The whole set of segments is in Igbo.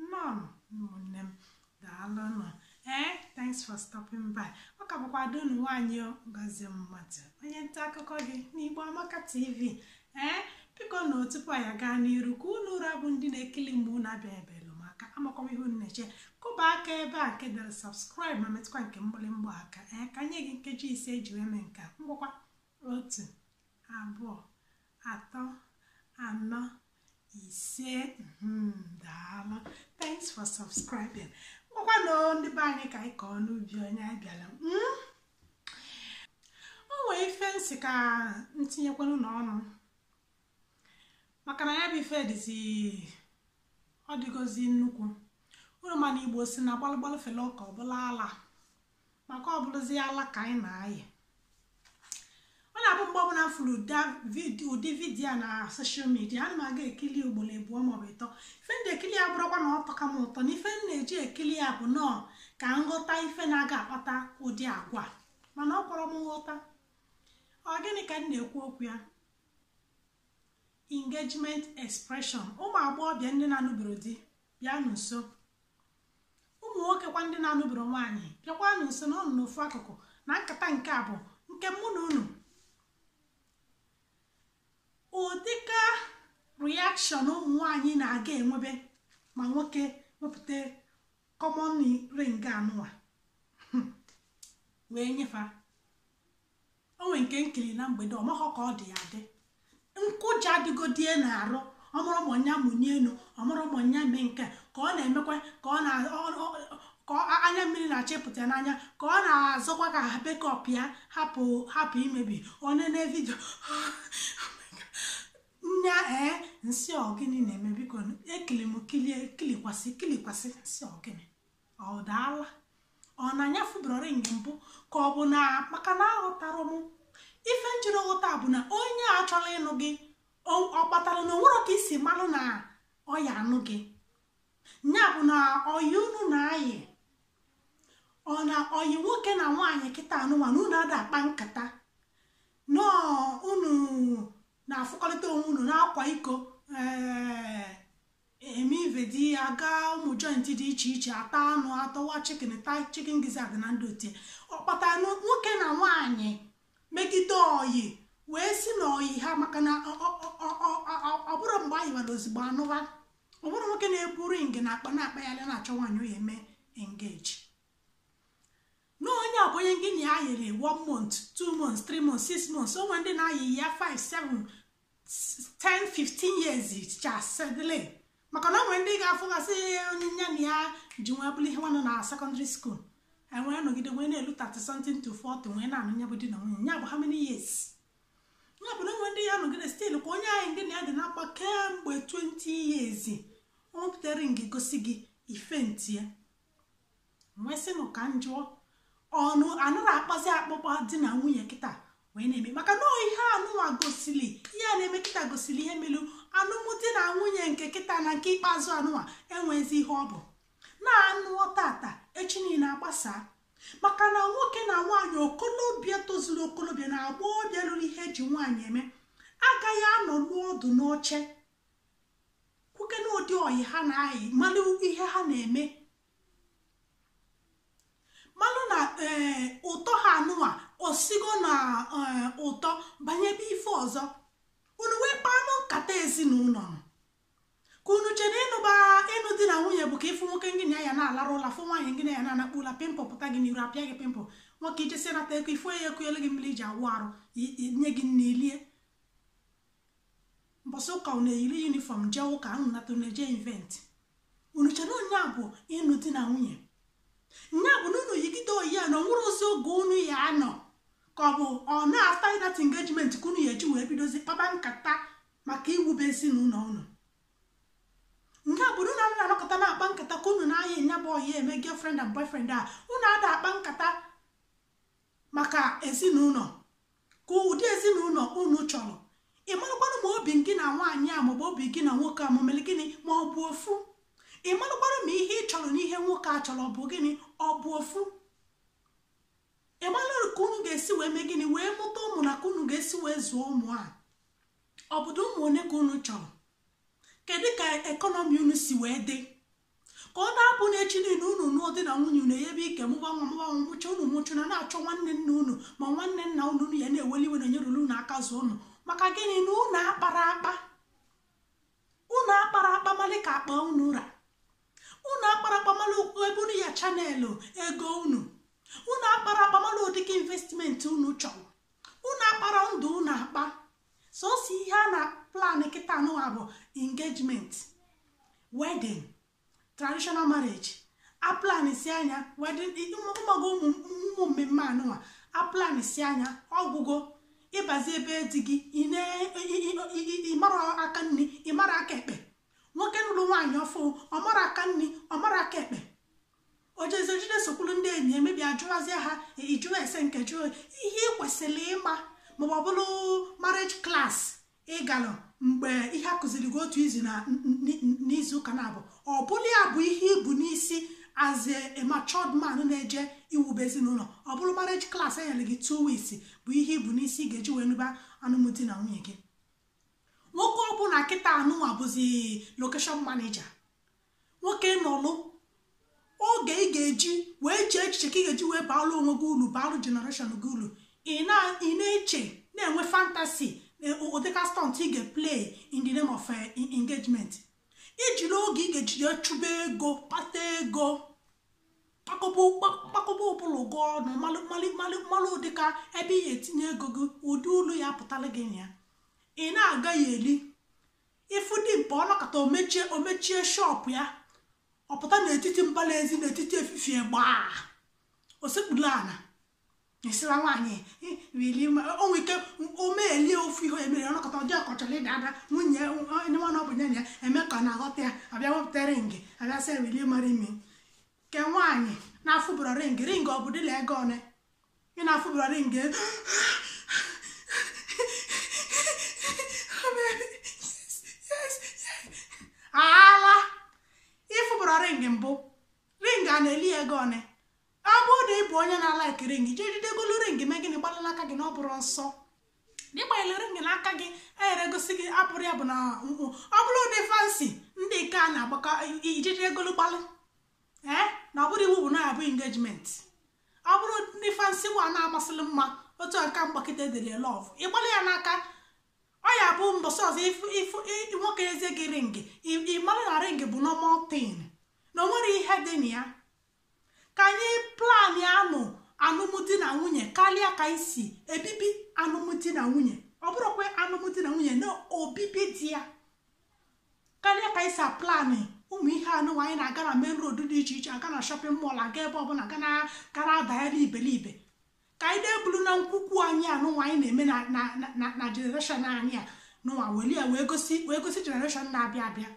nnọọnụ ụmụnne m daalụnụ ee thanks for stopping by ọ ka bụkwa ada unu nwaanyị ngozi mmadụ onye nta akụkọ gị n'igbo amaka tv ee bikonụ tupu anyị gaa n'iru ka unu ụra bụ ndị na-ekili mgbe unu abịabelụ m aka amaghọ m ihe unu na-eche kụba aka ebe a nke dere subscribe ma metụkwa nke mgbịrịmgba aka ee ka m nye gị nkeji ise eji wee mee nke a ngwakwa otu abụọ atọ anọ ise hmm, daalụ thanks for subscribing ngwakwanụ ndị be anyị ka anyị kọọ n'ubi onye a bịala hmm? o nwee ife m sị ka m tinyekwanụ n'ọnụ maka na ya bụ ife dịzi ọ dịgozi nnukwu unu ma na igbo sị na gbalụgbalụ fele oke ọ bụlụ ala maka ọ bụlụzia ala ka anyị na-ayị ọ na-abụ mgbe ọbụla m fụrụ ụdị vidiyo na social media ana m aga ekili ugboro abụọ maọbụ ịtọ ife m ji ekili ya abụrọkwa na ọ tọka m ụtọ na ife m na-eji ekili ya bụ nọọ ka m ghọta ife na-aga akpata ụdị agwa mana o kwerọ m nghọta ọ gịnị ka m na-ekwu okwu ya engagement expression ụmụ agbọghọbịa ndị na-anụberọ di bịanụ nso ụmụ nwokekwa ndị na-anụberọ nwaanyị bịakwanụ nso nọọnụ n'ofu akụkụ na nkata nke a bụ nke mụ na unu ụdịka reaction ụmụ nwaanyị na-aga enwebe ma nwoke wepụta common ring anụwa wee nye fa o nwere nke m kili na mgbede ọ maghọ ka ọ dị ya dị nkụja adịgodie n'arụ ọ marọ ma ọ ya amanie enu ọ marọ ma ọ ya eme nke ka ọ na-emekwa ka ọ na ka anya mmiri na-achọ ịpụta n'anya ka ọ na-azọkwa ka makeup ya hapụ hapụ imebi onye na vidio nya ee m sị ọ gịnị na-eme biko ekili m kilie kilikwasị kilikwasị m sị ọ gịnị ọ daala ọ na nya afụberọ ring mbụ ka ọ bụ na maka na aghọtara m ife m jiri ghọta bụ na onye a chọrọ ịnụ gị ọ kpatara na o nwere ka i si malụ na ọ ya anụ gị ya bụ na ọyị unu na-ayị ọ na ọyị nwoke na nwaanyị kịta anụwa na unu ada akpa nkata nọọ unu na-afụkọrịta onwe unu na-akwa iko eme ive di ya gaa ụmụ joint dị iche iche ata anụ tawa chicken ta chicken gizzard na ndị otie ọ kpatara nwoke na nwaanyị megide ọyị wee si n'ọyị ha maka na ọ bụrụ mgbe anyị were ozugbo anụwa ọ bụrụ nwoke na-ebu ring n'akpa na-akpa ya na-achọ nwaanyị ọ ya eme engage na onye a bụ onye gị na ya yịrị one month two months three months six months o nwe ndị na-ayị ya five seven ten fifteen years chasedile maka na o nwe ndị ga-afụgasị onye nya na ya ji wee bụrụ ihe nwanne na secondary school e wee nọgide wee na-elu 30 something to 40 wee na-anụ nya bụ di na nwunye nya bụ how many years ya bụ na enwe ndị ya nọgide still ka onye ngị na ya dị na-akpa kemgbe 20 years o wepụtara ring gosi gị ife ntie m wee sị nụ ka m jụọ unu anara akpazi akpakpa di na nwunye kịta wee na-eme maka na ihe anụnwa gosili ihe a na-eme kịta gosili ihe melu anụmdi na nwunye nke kịta na nke ikpeazụ anụnwa enwezi ihe ọ bụ na a nụọ tata echi niile agbasaa maka na nwoke na nwaanyị okolobịa tozuru okolobịa na agbọghọbịa rulu ihe eji nwaanyị eme agaghị anọnụ ọdụ n'oche kwuke na ụdị oyi ha na-ayị malụ ihe ha na-eme malụ na eh, ụtọ ha anụwa osigo na eh, ụtọ banyebe ife ọzọ unu wee kpanụ nkata ezinụlọ ka unu chere ịnụba ịnụ di na nwunye bụ ka ịfụ nwoke ngị na ya na-alarụ ụla fụ nwaanyị ngị na ya na-anakpụ ụla pimple pụta gị n'iru apịa gị pimple nwoke ijesi nata ego ifụ ya ekunyelu gị mmiri iji awụ arụ nye gị nni i lie mbọsị ụka unu eyiri uniform jee ụka unu nata unu eje event unu chere na nya bụ ịnụ di na nwunye nya bụ na unu yigide oyi ya na o nwerozi oge unu ya anọ ka ọ bụ na after that engagement ka unu ya eji wee bidozi kpaba nkata maka iwube ezinụlọ unu nke a bụrụ na unu anọkọta na-akpa nkata ka unu na-ayị nya bụ oyi a eme girlfriend and boyfriend a unu ada akpa nkata maka ezinụlọ ka ụdị ezinụlọ unu chọrọ ị marakwanụ ma obi gị na nwaanyị a maọbụ obi gị na nwoke a ma ọ mere gịnị ma ọ bụ ofu ị marakwanụ ma ihe ị chọrọ na ihe nwoke a chọrọ ọ bụ gịnị ọ bụ ofu ị marakwanụ ka unu ga-esi wee mee gịnị wee mụta ụmụ na ka unu ga-esi wee zụọ ụmụ a ọ bụdụ ụmụ one ka unu chọrọ kedu ka economy unu si wee dị ka ọ na-abụ n'echi niile unu nụọ di na nwunye unu eyebe ike mụba nwa mụba nwa mụcha unu mụchaa na-achọ nwanne nne unu ma nwanne nna unu unu ya na-eweli iwe na nyerụla unu aka zụọ unu maka gịnị na unu akpara akpa unu akpara akpa malụ ka akpa unu ra unu akpara akpa malụ ụkwụ ebe unu ya chanelụ ego unu unu akpara akpa malụ ụdịka investment unu chọrọ unu akpara ndụ unu akpa sọsọ ihe a na plan kịta anụwa bụ engagement wedding traditional marriage a plansịa nya ụmụgo ụmụ mmemme anụwa a plansịa nya ọgwụgo ị bazi ebe di gị ị marọ aka nni ị mara aka ekpe nwoke nụrụ nwaanyị ọfụụ ọ marọ aka nni ọ mara aka ekpe o jezie jee sokwuru ndị enyi emebi ajụwazie ha ijụrụ ese nke jụọ ihe ị kwesịrị ịma maọbụ ọ bụrụ marriage class ị galụ mgbe ihe a kụziri gị otu izu n'izu ụka naabọ ọ bụrụ ya bụ ihe i bu n'isi as a matured man na-eje iwube ezinụlọ ọ bụrụ marriage class e nyere gị two weeks bụ ihe i bu n'isi ị ga-eji wee nụba anụmdi na nwunye gị nwoke ọbụla kịta anụnwa bụzi location manager nwoke nọlụ oge ị ga-eji wee chee echiche ka ị ga-eji wee baalụ onwe gị ulu baalụ generation gị ulu ị na-eche na-enwe fantasy ụdịka stunt ị ga-play in the name of eh, engagement i jiri oge ị ga-eji jee chụba ego kpata ego kpakọba ụbụlụ gị ọnụ malụ ụdịka ebe ị ga-etinye ego gị ụdị ulu ya-apụtara gị na ya ị na-agaghalị ị fụ dimkpa ọ nọkata o mechie o mechie shop ya ọ pụta n'etiti mbala ezi n'etiti efifie gbaa osekpuru ala esila nwaanyị wili o nwe ike o melie ofu ihe e mere ọ nọkata ọ dị ka ọ chọrọ ịda ada nwunye onye nwana ọ bụ enyi ya eme ka ọ na-aghọta ya abịa wepụta ring abịa sị will you marry me kee nwaanyị na-afụbụrọ ring ring ọ bụ dịla ego one ị na-afụbụrọ ring ala ị fụbụrọ ring mbụ ring a na-eli ego one ọ bụrụ na ị bụ onye na-alike ring jee je golu ring mee gịnị gbalụ n'aka gị na ọ bụrọ nsọ na ị gbanyere ring n'aka gị enyere gosi gị apụrụ ya bụ na ọ bụrụ ụdị fancy ndị nke a na-agbakọ i jee je golu gbalụ ee na ọ bụrọ iwu bụ na ọ bụ engagement ọ bụrụ ndị fancy nwa na-amasịrị mma otu a nke m gba kịta e dere love ị gbalụ ya n'aka ọ ya-abụ mbọsị ọzọ nwoke ezi gị ring ị mara na ring bụ normal thing na o nwerọ ihe dị na ya ka anyị plan anụ alụmdi na nwunye karịa ka anyị si ebibi alụmdi na nwunye ọ bụrụkwa alụmdi na nwunye na obibi dị ya karịa ka anyị si aplan ụmụ ihe anụ anyị na-aga na main road dị iche iche aga na shopping mall aga ebe ọbụla ga gara adagharị iberibe ka anyị na-ebulu na nkwukwu anyị anụnwa anyị na-eme na generation anyị anụnwa weli ya wee gosi wee gosi generation na-abịa abịa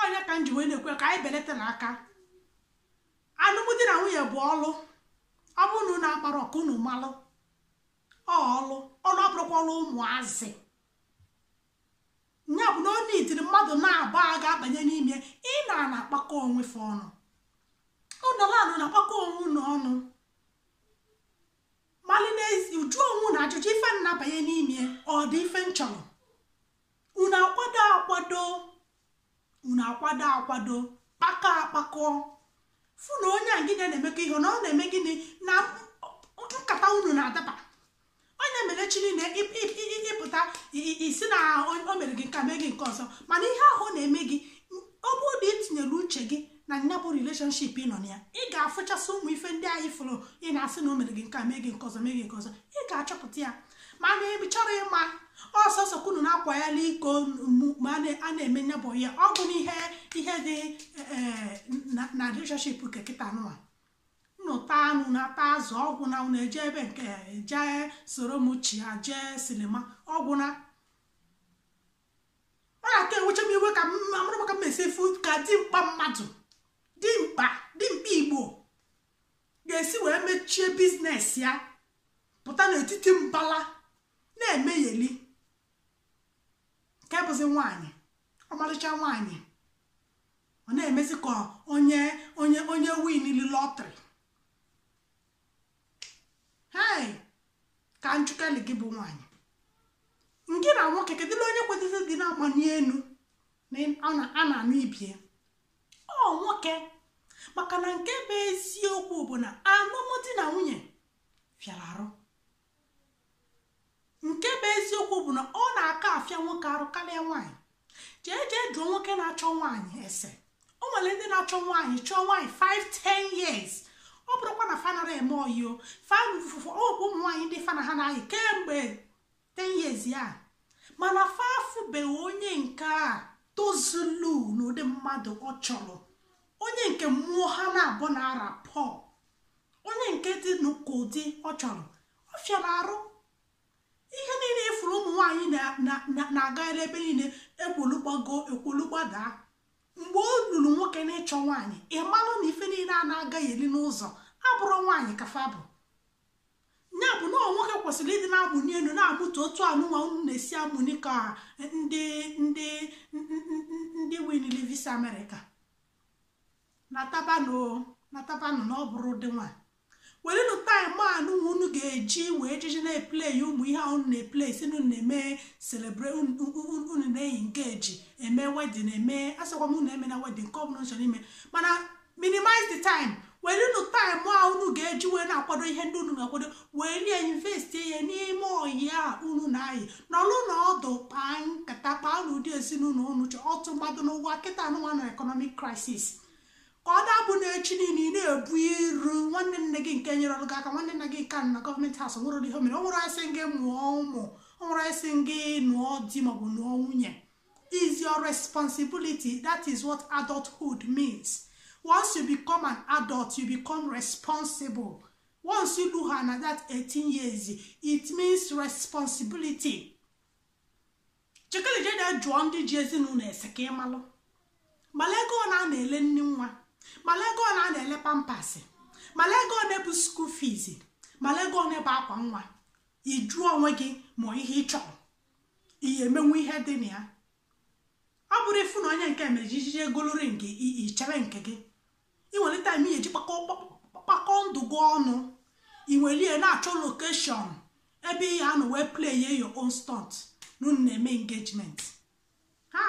ọ ya ka m ji wee na-ekwu ka anyị belatanụ aka alụmdi na nwunye bụ ọlụ ọ bụrụ na unu amarọ ka unu malụ ọlụ ọlụ abụrọkwa ọlụ ụmụazị ya bụ na ọ na-etiri mmadụ na-aba ga-abanye n'ime ị na na-akpakọ onwe fa ọnụ ụnọla anụ na-akpakọ onwe unu ọnụ mali n'ezi jụọ onwe unu ajụjụ ife na-abanye n'ime ọ dị ife unu chọrọ unu akwado akwado unu akwado akwado kpakọ akpakọ fụ na onye a gị na-emekọ ihe na ọ na-eme gịnị na nkata unu na-adaba onye mere echi niile ị pụta ị sị na o mere gị nke a mee gị nke ọzọ mana ihe ahụ ọ na-eme gị ọ bụrụ na i tinyere uche gị na nya bụ relationship ị nọ na ya ị ga-afụchasị ụmụ ife ndị anyị fụrụ ị na-asị na o mere gị nke a mee gị nke ọzọ mee gị nke ọzọ ị ga-achọpụta ya mana ị chọrọ ịma ọsọsọ ka unu na-akwagharị iko ma a na-eme nya bụ ya ọ bụ ihe dị na relationship nke kịta nụwa unu ata anụ unu ata azụ ọ gwụna unu eje ebe nke a eje soro m chịa jee sinima ọ gwụna ọ na-aka ewecha m iwe ka mara maka mmesi efu ka dimkpa mmadụ dimkpa dimkpa igbo ga-esi wee mechie biznes ya pụta n'etiti mbala na-emegheli nke bụzi nwaanyị ọmarịcha nwaanyị ọ na-emezi ka onye onye onye winili lọtrị hei ka m jụkene gị bụ nwaanyị gị na nwoke kedụla onye kwesịzị ịdị na-agba n'elu a na-anụ ibie ọ nwoke maka na nke bụ eziokwu bụ na alụmdi na nwunye fịara arụ nke bụ eziokwu bụ na ọ na-aka afịa nwoke arụ karịa nwaanyị jee jee jụọ nwoke na-achọ nwaanyị ese o nwere ndị na-achọ nwaanyị chọọ nwaanyị 5 10 years ọ bụrụkwa na fa anara eme oyi o fa na ụfọdụ ọ bụ ụmụ nwaanyị ndị fa na ha na-ayị kemgbe 10 years a mana fa afụbeghị onye nke a tozulu n'ụdị mmadụ ọ chọrọ onye nke mmụọ ha naabọ na-arakọ onye nke dị ka ụdị ọ chọrọ ọ fịara arụ ihe niile ị fụrụ ụmụ nwaanyị na-agagharị ebe niile ekwolu gbago ekwolu gbadaa mgbe o luru nwoke n'ịchọ nwaanyị ị malụ na ife niile a na-agagheli n'ụzọ abụrụ nwaanyị ka fa bụ ya bụ na nwoke kwesịrị ịdị na-amụni elu na-amụta otu anụnwa unu na-esi amụni ka ndị ndị ndị winili visa amerịka natabanụ natabanụ na ọ bụrụ dị nwa werenụ taịm anụ unu ga-eji wee jiji na-eplan ụmụ ihe unu na-eplan sị unu na-eme celebrate unu na-eyi nke eji eme wedin eme asịkwa m unu emena wedin nke ọbụla unu chọrọ ime mana minimize the time werenụ taịm a unu ga-eji wee na-akwado ihe ndị unu ga-akwado weli investie n'ime oyi a unu na-ayị nọlụ na ọdụ kpaa nkata kpaa na ụdị ezinụlọ unu chọ ọtụ mmadụ n'ụwa kịta anụnwa na economic crisis ka ọ dabụ na echi niile ị na-ebu iru nwanne nne gị nke nyerọlụ gị aka nwanne nna gị nke nọ government house nwere ihe mere o nwerọ onye sị gị mụọ ụmụ o nwerọ onye sị gị nụọ di maọbụ nụọ nwunye is your responsibility that is what adulthood means once you become an adult you become responsible once you do her na that 18 years it means responsibility jikele jee jụọ ndị ji ezinụlọ ese ka ịmalụ malụ ego one a na-ele nni nwa malụ ego one a na-ele pampers malụ ego one bụ school fees malụ ego one bụ akwa nwa ị jụọ onwe gị ma ihe ị chọrọ ihe emenwe ihe dị na ya ọ bụrọ ịfụ na onye nke mere ijije egolo ring ichebe nke gị ị welu time ị ya-eji kpakọọ ndụ gị ọnụ ị welie na-achọ location ebe ị ya-anọ wee playe your own stunt na unu na-eme engagement ha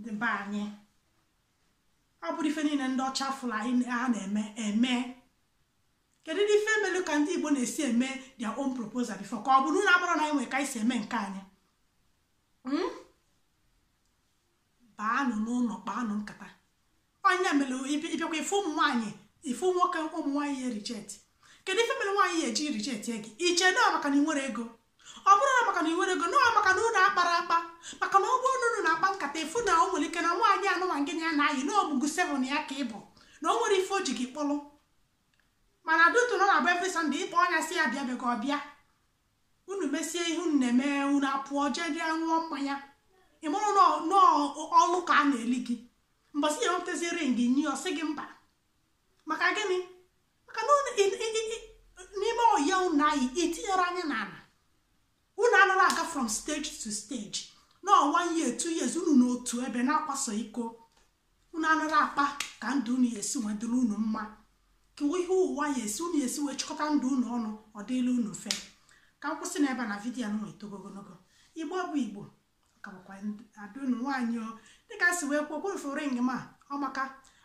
dị be anyị ọ bụdị ife niile ndị ọcha fụrụ anyị ha na-eme eme kedudị ife melu ka ndị igbo na-esi eme their own proposal before ka ọ bụ na ọ bụrọ na anyị nwere ka anyị si eme nke anyị hmm? baanụ n'ụlọ kpaanụ nkata onye mere ịbịakwa ife ụmụ nwaanyị ife nwoke ụmụ nwaanyị ya reject kedu ife mere nwaanyị ya-eji reject gị iche na maka na ị nwerọ ego ọ bụrọ na maka na ị nwerọ ego na maka na unu akparọ akpa maka na ọ bụrụ na unu na-akpa nkata ị fụ na o nwere ike na nwaanyị anụnwa gị na ya na-ayị na ọmụgụ seven ya ka ị bụ na o nwere ife o ji gị kpọrọ mana due to na ọ na-abụ every Sunday ị kpọọ ya sị ya bịa bịa ka ọ bịa unu mesie ihe unu na-eme unu apụọ jedị ṅụọ mmanya ị marọ n'ọlụ ka a na-eli gị mbọsị ị ya-ewetazi ring nye ọ sị gị mba maka gịnị maka na n'ime oyi a unu na-ayị itinyerọ anya n'ala unu anaghị aga from stage to stage na one year two years unu nọ otu ebe na-akwaso iko unu anarọ akpa ka ndụ unu esi wee dịrị unu mma ka ihe ụwa ya esi unu esi wee chịkọta ndụ unu ọnụ ọ dịlị unu mfe ka m kwụsị n'ebe na video anụ etogo ogologo igbo bụ igbo ka bụkwa ada unu nwaanyị o dịka si wee kwuo kwefu ring ma ọ maka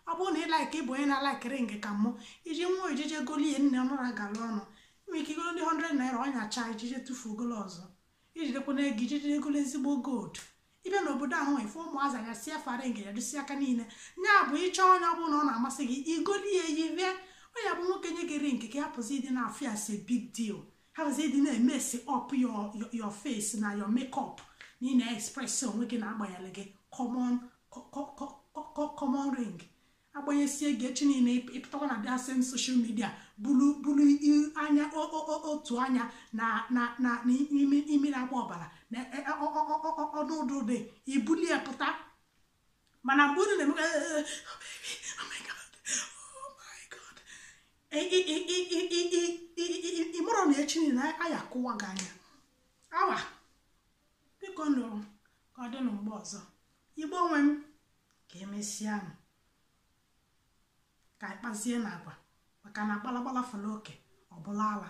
ọ bụrụ na ị like ịbụ onye na-alike ring ka mụ iji nwa ijije golie nne ọ narọ agara ọnụ nwere ike igolo ndị 100 naira ọ nyachaa ijije tụfuo golo ọzọ ijidekwanụ ego ijije egolo ezigbo gold ịbịa n'obodo ahụ ịfụ ụmụazị anya si fa ring ya dịsi aka niile ya bụ ịchọ onye ọ bụla ọ na-amasị gị igoli ya yili ya onye bụ nwoke nye gị ring gị hapụzi ịdị na-afụ ya as big deal hapụzi ịdị na-emesi up your face na your makeup na ị na-express onwe gị na agbanyere gị common ring agbanyesie gị echi niile ị pụtakwa na the same social media bulu bulu anya otu anya na na na imi na-agba ọbara na e, e, ọdụ ụdụ dị i buli ya pụta mana mgbe unu na-eme ị marọ na echi niile a ya-akụwa gị anya awa biko nụ ka ọ dị na mgbe ọzọ igbo nwe m ka emesịa nụ ka anyị kpazie nụ agwa maka na gbalagbala fere oke ọ bụlụ ala